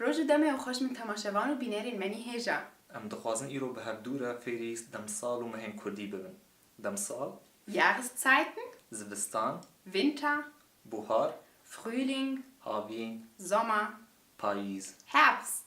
Roj û demê û xweş min temaşevan û bînerên me nî hêj a. Em dixwazin îro bi hevdû re fêrî demsal û mehên kurdî bibin, demsal. Jahresztzeiten. Zivistan. Winter. Buhar. Frühling. Havîn. Sommer. Payîz. Herbst.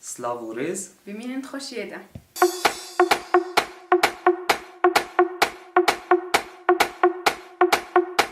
Silav û rêz. Bimînin di xweşiyê de.